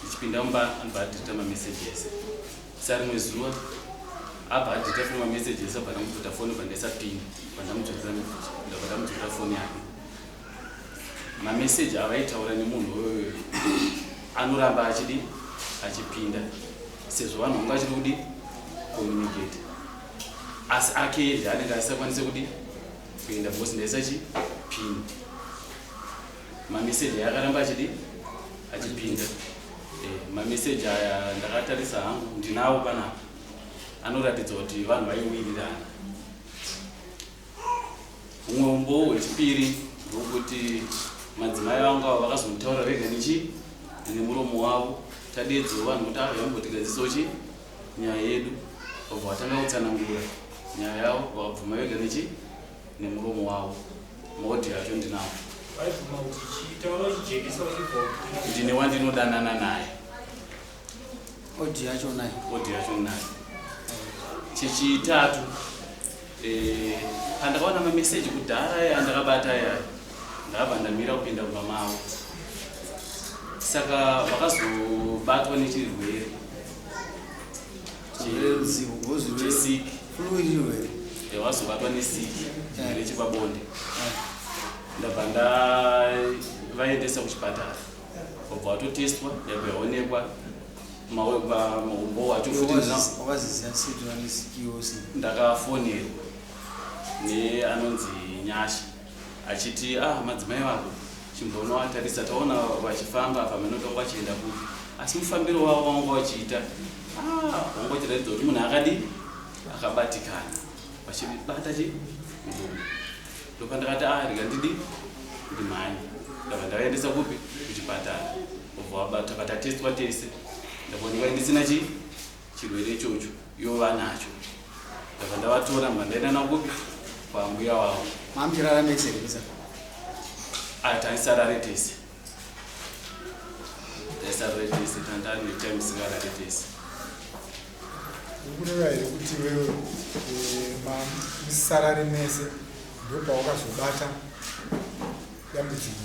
tichipinda mumba anobva adhirita mameseji ese sa rimwe zuva abva adhirita foni mameseji ese abva ndamudzota foni bva ndaisapini bva ndamudzotera mekuti ndabva ndamudzotera foni yake mameseji avaitaura nemunhu uyoyo anoramba achidi achipinda sezvo vanhu vanga vachiri kudi communicate asi ake zvaanenge asisakwanise kudi kuenda bhosi ndaisachi pini Mameseji aya akaramba achidi achipinda. Eh, mameseji aya ndakatarisa hangu ndinawo panapa anoratidza kuti vanhu vaiwirirana. Umwe umbowo hwechipiri hwokuti madzimai vangu avo vakazonitaura vega nechi nemuromo wavo tadedzo vanhu kuti avo vambotigadzisa chi nyaya yedu vabva vatanga kutsanangura nyaya yavo vakabvuma vega nechi nemuromo wavo moti hazvo ndinavo ndine wandinodanana naye odi yacho naye odi yacho naye chechitatu eh, pandakaona mameseji kudhara aya andakabata aya ndakabva ndamira kupinda kumba mavo saka vakazobatwa nechirwere chesiki Flu iri here? Eh, wazobatwa nesiki chirwere chepabonde. Ndabva ndavaendesa kuchipatara. Wabva watotestwa, yabva yaonekwa maumbo wacho futi wakaziziva siti vane siki yose. Ndakafonerwa neanonzi Nyasha. achiti ah madzimai vako chimbonovatarisa taona vachifamba apa mheno tonga vachienda kupi asi mufambiro wavo vanga vachiita ah, vanga vachiratidza kuti munhu akadii akabatikana vachibata chi murume ndopandakati ah rega ndidi kuti mhani ndava ndavaendesa kupi kuchipatara obva vabatakatatestwa tese ndakoni vaendisina chii chirwere ichocho ivo vanacho ndabva ndavatora mba ndaenda navo kupi kwambuya wavo mamchirara mese rekusa aya taisarare tese taisarare tese tandani time singarare tese ukureva here kuti wewe eh, musarare mese ndopaukazobata dambudziko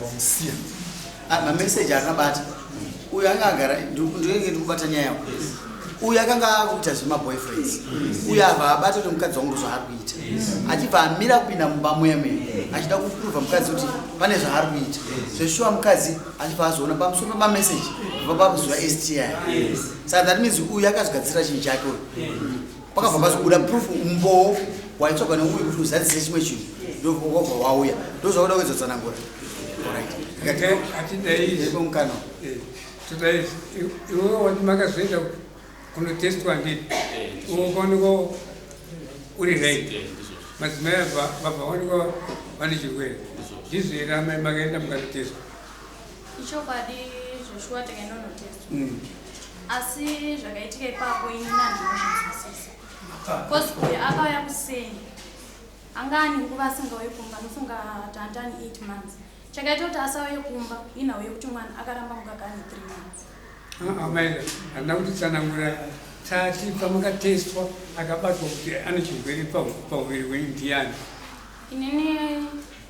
Vamusiya. Ah, mameseji akabata uyu anga agara ndinenge ndikubata nyaya yako uyu akanga akuita zvemaboyfriends uyu ava abata kuti mukadzi wangu zvaari kuita achibva amira kupinda mumba mweme achida kuprova mukadzi kuti pane zvaari kuita zveshuwa mukadzi achibva azoona pamusoro pemameseji vapakuziva sti sa that means uyu akazogadzira chinhu chake uyu pakabva pazobuda proof umboo waitsvaga neuyu kuti uzadzise chimwe chinhu ndovakabva wauya ndozvakuda kuedzotsanangura mukana todai iwe wati makazoenda kunotestwa ndii ukaoneka uri right madzimai abva vaoneka vane chirwere ndizvo here amai makaenda mukanotestwa Ichokwadi zveshuwa takaenda kunotestwa. Mm. Asi zvakaitika ipapo ini nandinozvinzwisisa. Because uyu akauya kuseni. Anga ane nguva asingauye kumba nofunga tandani 8 months. Chakaita kuti asauye kumba inhau yekuti mwana akaramba mukaka ane 3 months. Ah, ah, Maida, handina kuti tsanangura tati pamakatestwa akabatwa kuti ane chirwere pahuviri wenyu ndiyani. Inini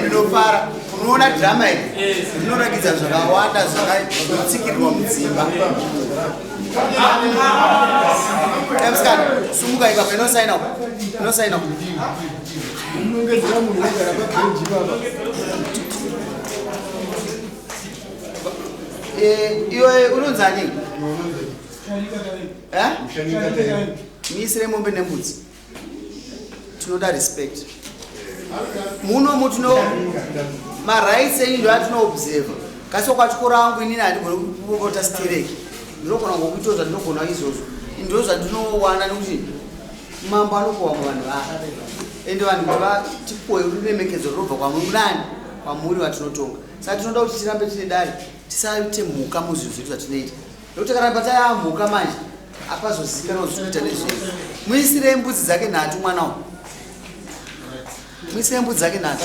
ndinofara unoona drama iri rinoratidza zvakawanda zvakatsikirwa mudzimba emskan sumuka ikapa inosaina inosaina Eh, iwe unonzi ani eh? miisire mombe nembudzi tinoda respect muno mutino marights enyu ndo atinoobserva kasi kwachikoro angu inini handigoni kupota stereki ndinogona ngokuitawo zvandinogona izvozvo ndo zvandinowana nekuti mambo anokowa muvanhu vaa ende vanhu kuti vatipoe ruremekedzo rinobva kwamuri nani kwamuri vatinotonga Saka tinoda kuti tirambe tine dare, tisaite mhuka muzvinhu zvedu zvatinoita. Nekuti kana pataya mhuka manje, apazozikana kuti tinoita nezvei. Muisirei mbudzi dzake nhatu mwana uyu. Muisirei mbudzi dzake nhatu.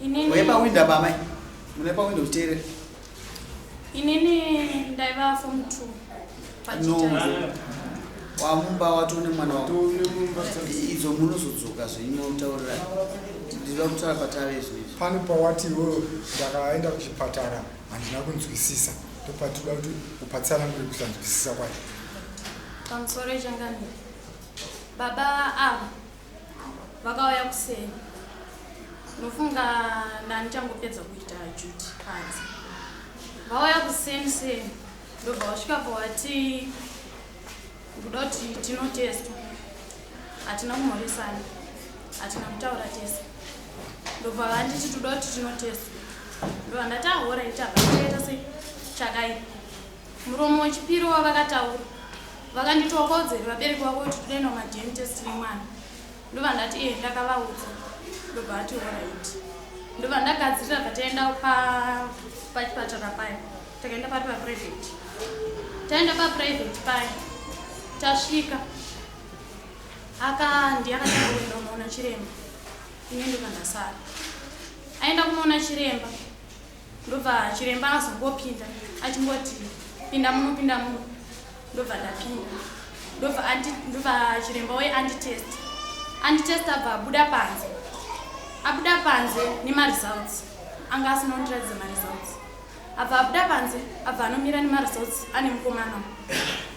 Inini. Uye pa window apa mai. Mune pa window kuteerera. Inini ndaiva form 2. Pachitanga. Wamumba wato ne mwana wako. Idzo munozodzoka zvenyu utaurira. Ndinoda kutaura patave izvi. Pano pawati iwewe ndakaenda kuchipatara handina kunzwisisa. Ndopatinoda kuti upatsana nguri kusanzwisisa kwacho. Pamusoro changani. Baba ava. Ah. vakauya kuseni nofunga ndandichangopedza kuita juti panzi vauya kuseni seni ndobva wasvika pawati kuda kuti tinotestwa hatina kumhoresana hatina kutaura tese ndobva vanditi toda kuti tinotestwa ndobva ndati ahora itabaita sei chakaipa Muromo wechipiri wavakataura vakanditi wakaudzepi vabereki vako kuti toda kuenda kumadn test nemwana ndobva ndati ee ndakavaudza ndobva ati orit ndobva ndagadzirira bva taenda pachipatara paya takaenda pari paprivate taenda paprivate paya tasvika akandi akatanga kuenda kunoona chiremba ine ndobva ndasara aenda kunoona chiremba ndobva chiremba azongopinda achingoti pinda muno pinda muno ndobva ndapinda ndobva ndobva chiremba wei anditest anditest abva abuda panze abuda panze nemaresults anga asina kundiratidza maresults abva abuda panze abva anomira nemaresults ane mukomana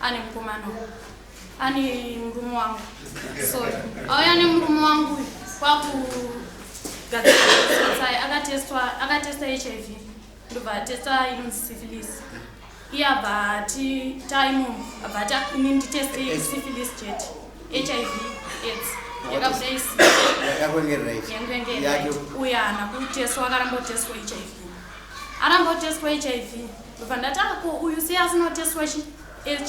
ane mukomana ane murume wangu so auya nemurume wangu kwakugadzirasai akatesta hiv ndobva atesta inonzi syphilis iye abva ati taimo abva ati ini nditeste syphilis jet hiv aids yakabuda isiyanguengereaiyake uya haana kutestwa akaramba kutestwa hiv aramba kutestwa hiv ndobva ndatanga ko uyu sei asinotestwa chi hiv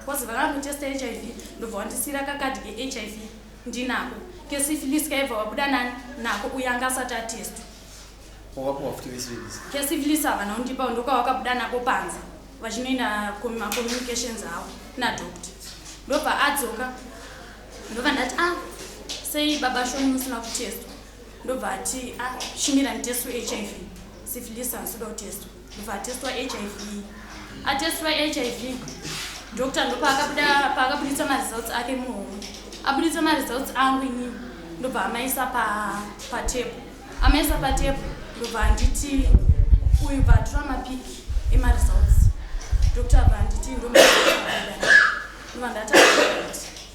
bcause vakangotesta hiv ndobva wandisiyira kakadhi kehiv ndinako kesifilis kaibva wabuda nani nako uyo anga asati atestwa kesifilis havana undipa ndokawakabuda nako panze vachinoina macommunications avo nadoctor ndobva adzoka ndobva ndati a ah, sei baba shoni musina kutestwa ndobva ati a ah, shimira nditestwa hiv Syphilis anoda kutestwa. Ndobva atestwa HIV. Atestwa HIV. Doctor ndopaakabuda paakabuditsa maresults ake muhomwe. Abuditsa maresults angu inini. Ndobva amaisa pa patable. Amaisa patable ndobva anditi uyu bva atura mapic emaresults. Doctor bva anditi ndomabuda. Ndobva ndati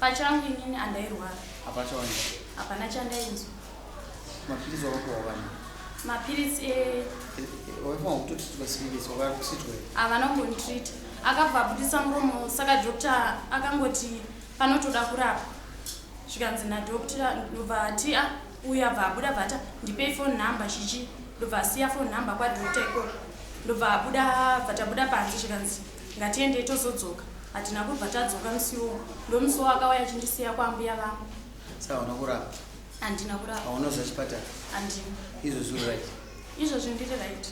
Pachangu inini andairwara. Hapachaoneka. Hapana chandainzwa. Mapiritsi wakupiwa wani? Mapiritsi e eh, eh, waifanira kutoti tikasiririsa wakakusitwa. Havana kunditreat. Akabva abudisa muromo saka doctor akangoti panotoda kurapa. Zvikanzi na doctor ndobva ati a ah, uyu abva abuda bvata ndipei phone number chichi ndobva asiya phone number kwa doctor ikoko ndobva abuda bvatabuda panze zvikanzi Ngatiendei tozodzoka. Hatina kubva tadzoka musi iwowo. Ndomusi iwowo akauya achindisiya kwaambuya vangu. Saka hauna kurapa? Handina kurapa. Hauna kuziva chipatara? Handina. Izvozvi uri right? Izvozvi ndiri right.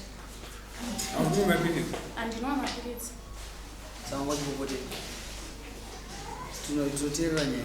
Haunwi mapiritsi? Handinwa mapiritsi. Saka ungachipopotei? Tinoteerera nyaya.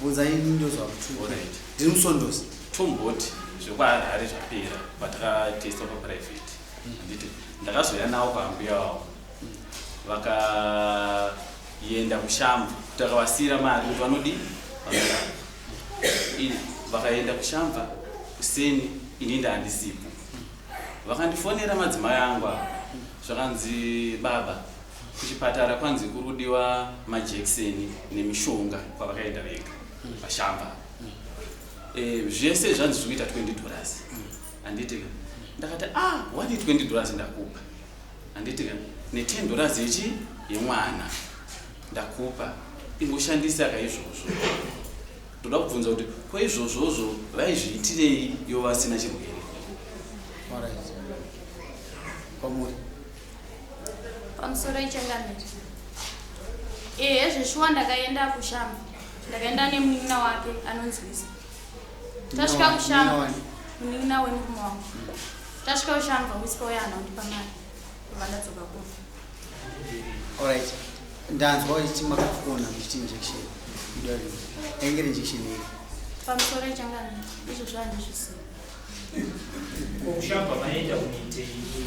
Bvunza ini ndozvakutuka. Alright. Ndiri musondosi. Tomboti zvekwaHarare zvapera patakatesta paprivate. Handiti ndakazouya nawo kwaambuya wavo. Vakaenda kuShamva. Takavasiyira mari kuti vanodii? Vanoda. Ini vakaenda kuShamva kuseni ini ndaandisipo. Vakandifonera madzimai angu ava zvakanzi baba Kuchipatara kwanzi kurudiwa majekiseni nemishonga kwavakaenda vega vashamba eh, zvese zvanzi zvikuita 20 dollars handiti ka ndakati ah wadi 20 dollars ndakupa handiti ka ne10 dollars yechi yemwana ndakupa ingoshandisa ka izvozvo ndoda kubvunza kuti ko izvozvozvo vaizviitirei yo vasina chirwere Alright. Kwamuri. pamusoro ichangamire ehe zveshuwa ndakaenda kushamba ndakaenda nemunin'ina wake anonzwisa tasvika kushamba munin'ina wemurume wangu tasvika kushamba wispa uya hana undipa mari kuva ndadzoka kuno orit ndanzwa ichi makafona ndichiti injection idari ainge ri injection iri pamusoro ichangamire izvo zvandizvisiya kushamba maenda kunoitei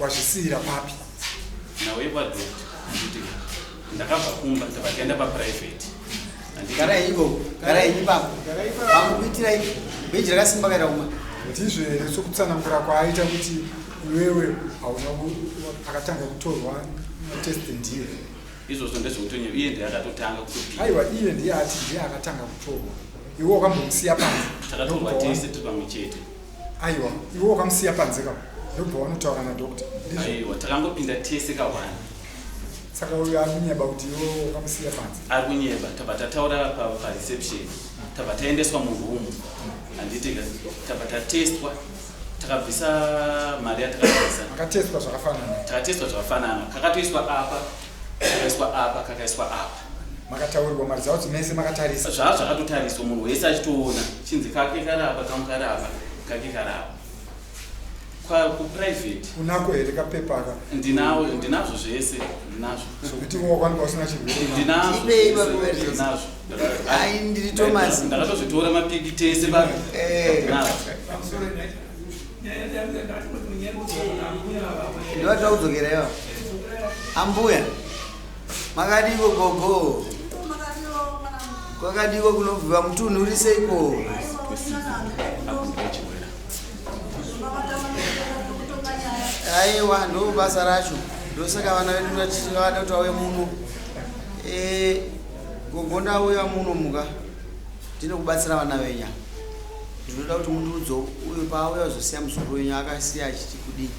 Wazvisiira papi? Nawe kwadokta kuti ndakabva kumba ndakagenda paprivate. Garai ivo, garai ipapo. Vamukuitira ivo. Beji rakasimba kaita kuma. Ndizvo here sokutsanangura kwaaita kuti iwewe hauna akatanga kutorwa test ndiye. Izvozvo ndezvokutonyewa iye ndiye akatotanga kutopiwa. Aiwa iye ndiye ati ndiye akatanga kutorwa. Iwe wakambomusiya panze. Takatorwa tese tiri pamwe chete. aiwa iwe wakamusiya panze ka ndobva wanotaura nadoctor aiwa takangopinda tese kawana saka uyo ari kunyeba kuti iwe wakamusiya panze ari kunyeba tabva tataura pareception tabva taendeswa muroom handiti tabva tatestwa takabvisa mari yatakabvisa akatestwa zvakafanana takatestwa zvakafanana kakatoiswa apa kakaiswa apa kakaiswa apa makataurirwa maridza kuti mese makatarisa zvaa zvakatotariswa munhu wese achitoona chinzi kake karapa kamu karapa kake karapa kuprivate unako here kapepaka ndinawo ndinazvo zvese ndinazvo sokuti wakwanika usina chirwedinazvo ai ndiri thomas ndakatozvitora mapiki tese pa eh. ndivataudzokera iva ambuya Makadiko gogo. Kwakadiko kunovhiwa mutunhu uri seiko? Aiwa ndo basa racho. Ndosaka vana vedu vachivada kuti vauye muno. Eh gogo ndauya muno muka. Ndinokubatsira vana venya. Ndinoda kuti mundiudze uyo paauya zosiya musoro wenyu akasiya achiti kudii.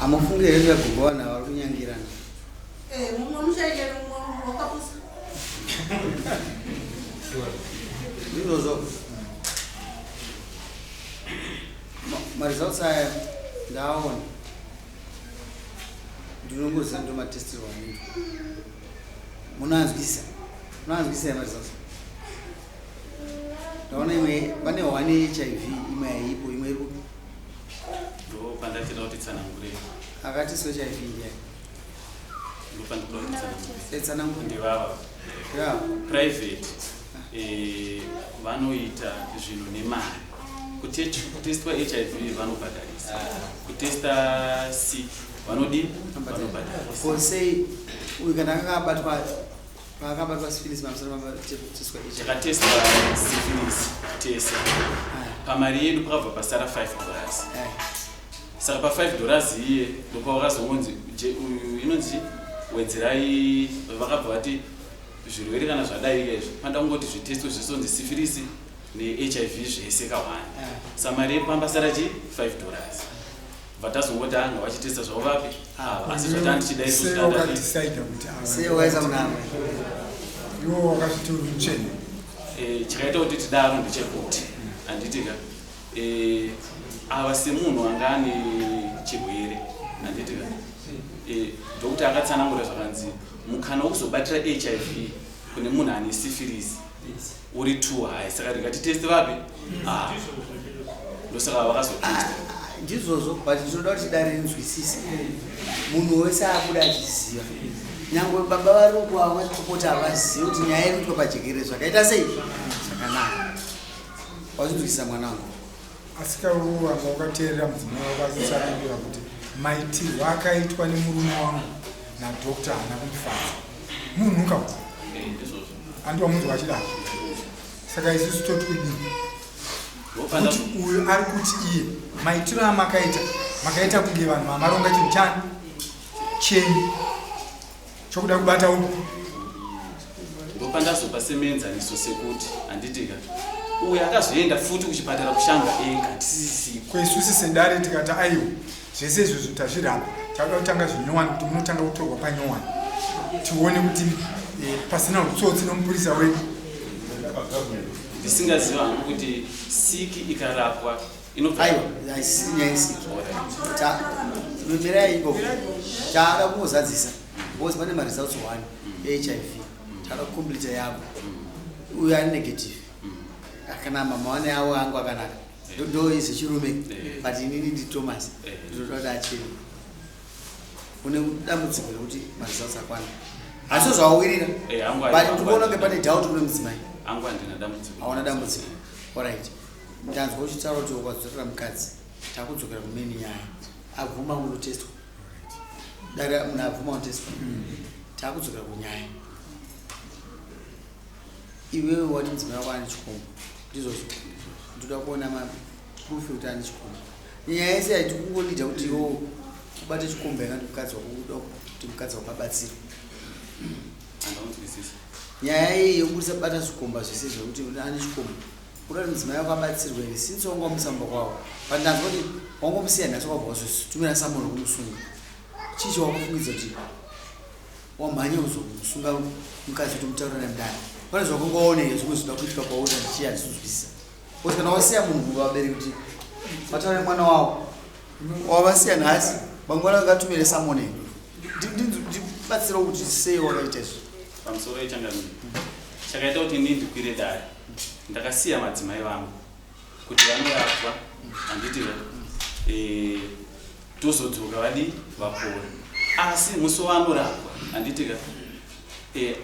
Hamufunge here kuti vagogo vanhu ava vari kunyangirana? Eh, mumwe muchaita mumwe wakapusa. Ndizvozvo. Ma- Maresults aya ndaaona. Ndinongoziva ndo matestirwo anoitwa. Munanzwisa. Munanzwisa here maresults? ndaona imwe pane hwani hiv imwe haipo imwe iri kupi ndopandachida kuti tsanangure akati so hiv ndiya ndopandikudakuitsanangurndivava eh, private eh, vanoita zvinhu nemari kutestwa hiv vanobhadharisa kutesta sick vanodii vanobhadharisa ko sei uyu kana akanga abatwa Pakabatwa syphilis mamusoro mabatisotiswa ichi. Takatestwa syphilis tese. Pamari yedu pakabva pasara 5 dollars. Saka pa 5 dollars iye ndopawakazongonzi uyu inonzi wedzerai vakabva vati zvirwere kana zvadaika izvi panda kungoti zvitestwe zvesonzi syphilis neHIV zvese kawani. Samari yedu pamba sara chi 5 dollars. vatazongoti anga vachitesta zvavo vapi ah, asi zvati andichidaiseiwakatisaida kuti seiwaiza munama iwo wakazviti uri mucheni eh, chikaita kuti tidaro ndechekuti handiti ka eh, ava semunhu anga ane chirwere handiti ka eh, dhokuta akatsanangura zvakanzi mukana wokuzobatira hiv kune munhu ane sifirisi Uri too high saka ndingatiteste vapi? Ah. Ndosaka vakazotesta. Ndizvozvo but ndinoda kuti dare rinzwisise. Munhu wese akuda achiziva. Nyangwe baba vari uko avo vachipopota havazivi kuti nyaya iri kuitwa pajekere zvakaita sei? Zvakanaka. Wazvinzwisisa mwana wangu. Asika uwo wanga wakateerera mudzimai wako achitsanangura kuti maitirwo akaitwa nemurume wangu nadokta haana kumufadza munhu ka andi wamunzwa achidaro saka isusu toti kudii kuti uyu ari kuti iye maitiro amakaita makaita kunge vanhu vamaronga chinhu chani chenyu chokuda kubata uku ndopandazopa semenzaniso sekuti handitika uyo akazoenda futi kuchipatara kushanga ega tisisi kwesusi sendare tikati aiwa zvese izvozvo tazviramba takuda kutanga zvinyowani kuti munotanga kutorwa panyowani tione kuti eh, pasina utsotsi nomupurisa wedu ndisingaziva hangu kuti siki ikarapwa aiwa haisisiri nyaya isiki mirai ikoko taada kungozadzisa because pane maresults one ehiv taada kucompleta yavo uyo ari negative kana mama wane avo angu akanaka ndo izi chirume but inini ndi thomas ndinoda kuti acheni une dambudziko rekuti maresults akwana hazvo zvawawirira but ndikuona kunge pane doubt kune mudzimai aona dambudziko orit Ndanzwa uchitaura kuti wadzorera mukadzi takudzokera kumeni nyaya abvuma unotestwa dare munhu abvuma unotestwa takudzokera kunyaya iwewe wati mudzimai wako ane chikombo ndizvozvo ndoda kuona maproof ekuti ane chikombo nyaya yese yaiti kungolida kuti iwo ubate chikombo yanga ndi mukadzi wako uda kuti mukadzi wako abatsire nyaya iyi yokubudisa bata zvikomba zvese zvekuti ane chikombo Kuda kuti mudzimai wako abatsirwe here since wanga wamusamba kwavo but ndanzwa kuti wangomusiya nhasi wabva wazvitumira samuno kumusunga chii chawakufungidza kuti wamhanya kuzokumusunga mukadzi kuti mutaura nemudana pane zvakanga waona here zvimwe zvinoda kuitika kwauri ndichii andizvizwisisa kuti kana wasiya munhu muva vabereki kuti vataura nemwana wavo wavasiya nhasi mangwana vakatumire samone ndibatsirawo kuti sei wakaita izvo pamusoro ichangamiro chakaita kuti ndindikwire dare Ndakasiya madzimai vangu kuti vanorapwa handiti eh, tozodzoka vadii vapora asi musi waanorapwa handiti ka eh,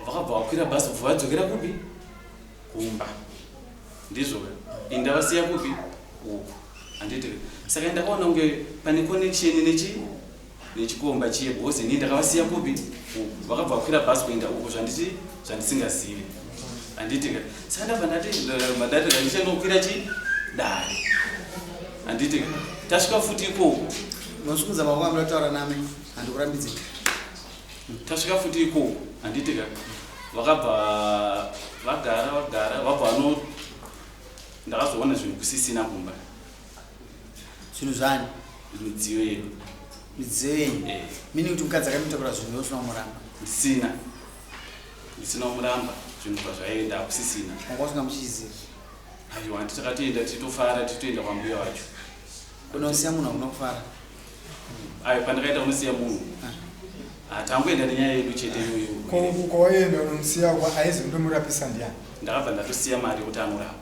vakabva vakwira bhazi bva vadzokera kupi kumba ndizvo indavasiya kupi uku handiti saka ndakaona kunge pane connection nechi nechikomba chiye because ini ndakavasiya kupi vakabva vakwira bus kuenda uko zvanditi zvandisingazivi handiti ka saka ndabva ndati madati ndandichandokwira chi dare handiti ka tasvika futi ikoko masvikuza mavanga murataura nami handikurambidzi tasvika futi ikoko handiti ka vakabva vagara vagara vabva vano ndakazoona zvinhu kusisina kumba zvinhu zvani midziyo yedu midziyo yenyu eh. mini kuti mukadzi akamitakura zvinhu yosina kumuramba ndisina ndisina kumuramba zvinhu zvazvaenda hakusisina manga usina muchiziva aiwa handi takatoenda titofara titoenda kwambuya wacho kunosiya munhu hakuna kufara ayo pandakaita kunosiya munhu ah. hatangoenda ah, nenyaya yedu chete iyoyo kwawaienda unomusiya aizi ndomurapisa ndiyani ndakabva ndatosiya mari yekuti anorapa